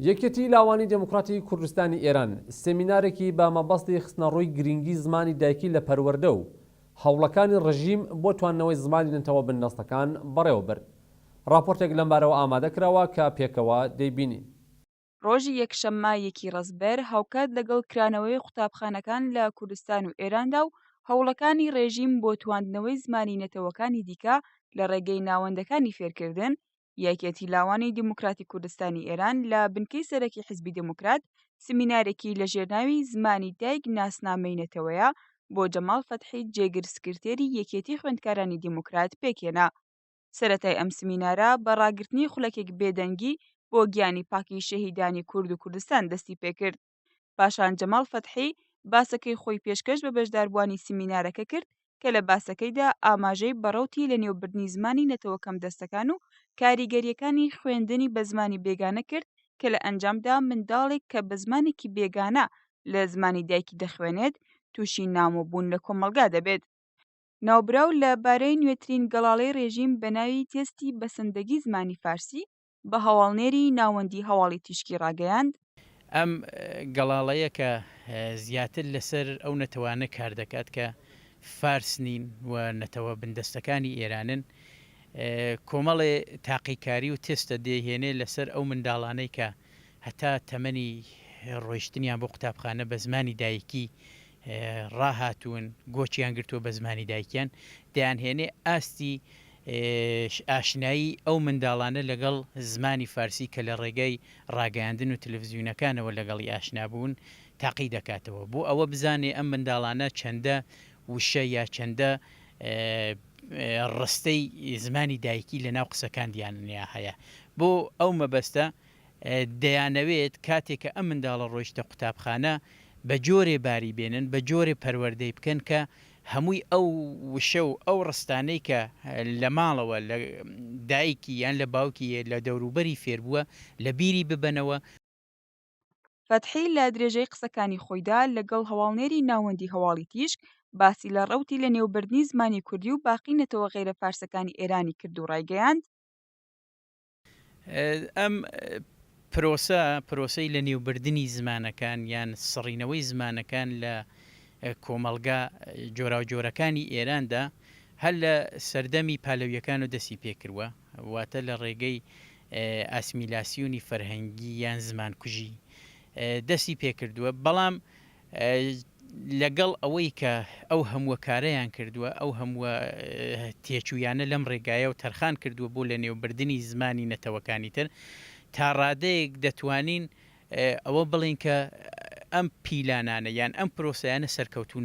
یەکێتی لاوانی دێموکڕاتی کوردستانی ئێران سێمینارێکی بە مەبەستی خستنەڕووی گرینگی زمانی دایکی لە پەروەردە و هەوڵەکانی ڕژیم بۆ تواندنەوەی زمانی نەتەوە بندەستەکان بەڕێوە برد. ڕاپۆرتێک لەم بارەوە ئامادە کراوە کە پێکەوە دەیبینین. ڕۆژی یەکشەممە یەکی ڕەزبەر هاوکات لەگەڵ کرانەوەی قوتابخانەکان لە کوردستان و ئێراندا و هەوڵەکانی ڕێژیم بۆ تواندنەوەی زمانی نەتەوەکانی دیکە لە ڕێگەی ناوەندەکانی فێرکردن، یەکێتی لاوانی دیموکراتی کوردستانی ئێران لە بنکەی سەرەکی حزبی دموکرات سمینارێکی لە ژێرناوی زمانی دایک ناسنامەی نەتەوەیە بۆ جەماڵ فەتحی جێگر سکرتێری یەکێتی خوێندکارانی دیموکرات پێکێنا سەتای ئەم سمینارە بە ڕاگررتنی خولەکێک بێدەنگی بۆ گیانی پاکی شەهیدانی کورد و کوردستان دەستی پێکرد پاشان جەماڵ فەتحی باسەکەی خۆی پێشکەش بە بەشداربووانی سیمینارەکە کرد کە لە باسەکەیدا ئاماژەی بە ڕەوتی لەنێوبردنی زمانی نەتەوە کەمدەستەکان و کاریگەرییەکانی خوێندنی بە زمانی بێگانە کرد کە لە ئەنجامدا منداڵێک کە بە زمانێکی بێگانە لە زمانی دایکی دەخوێنێت تووشی نامۆبوون لە کۆمەڵگا دەبێت ناوبراو لە بارەی نوێترین گەڵاڵەی ڕێژیم بە ناوی تێستی بەسەندەگی زمانی فارسی بە هەواڵنێری ناوەندی هەواڵی تیشکی ڕاگەیاند، ئەم گەڵاڵەیە کە زیاتر لەسەر ئەو نەتەوانە کار دەکات کە فارس نین و نەتەوە بندەستەکانی ئێرانن، کۆمەڵێ تاقیکاری و تێستە دەیهێنێ لەسەر ئەو منداڵانەی کە هەتا تەمەنی ڕۆیشتنیان بۆ قوتابخانە بە زمانی دایکی ڕاهاتوون گۆچیان گرتووە بە زمانی دایکیان دەیانهێنێ ئاستی ئاشنایی ئەو منداڵانە لەگەڵ زمانی فارسی کە لە ڕێگای ڕاگەیاندن و تەلەفزیونەکانەوە لەگەڵی ئاشنا بوون تاقی دەکاتەوە بۆ ئەوە بزانێ ئەم منداڵانە چەندە وشە یا چەندە ڕستەی زمانی دایکی لە ناو قسەکاندیانیا هەیە بۆ ئەو مەبەستە دەیانەوێت کاتێ کە ئەم منداڵە ڕۆیشتە قوتابخانە بە جۆرێ باری بێنن بە جۆرێ پەروەردەی بکەن کە هەمووی ئەو وشە و ئەو ڕستانەی کە لە ماڵەوە لە دایکی یان لە باوکی یە لە دەوروبەری فێر بووە لە بیری ببەنەوە. فەتحی لە درێژەی قسەکانی خۆیدا لەگەڵ هەواڵنێری ناوەندی هەواڵی تیشک باسی لە ڕەوتی لە نێو بردنی زمانی کوردی و باقی نەتەوە غەیرە فارسەکانی ئێرانی کرد و ڕایگەیاند، ئەم پرۆسە پرۆسەی لەنێوبردنی زمانەکان یان سڕینەوەی زمانەکان لە کۆمەڵگا جۆراوجۆرەکانی ئێراندا هەر لە سەردەمی پالەویەکان و دەستی پێکردوە واتە لە ڕێگەی ئاسمیلاسیونی فەرهەنگی یان زمانکوژی دەستی پێکردووە بەڵام لەگەڵ ئەوەی کە ئەو هەمووە کارەیان کردووە، ئەو هەمووە تێچوویانە لەم ڕێگایەوە تەرخان کردووە بۆ لەنێوبردنی زمانی نەتەوەکانی تر، تا ڕادەیەک دەتوانین ئەوە بڵێین کە ئەم پیلانانە یان ئەم پرۆسەیانە سەرکەوتوو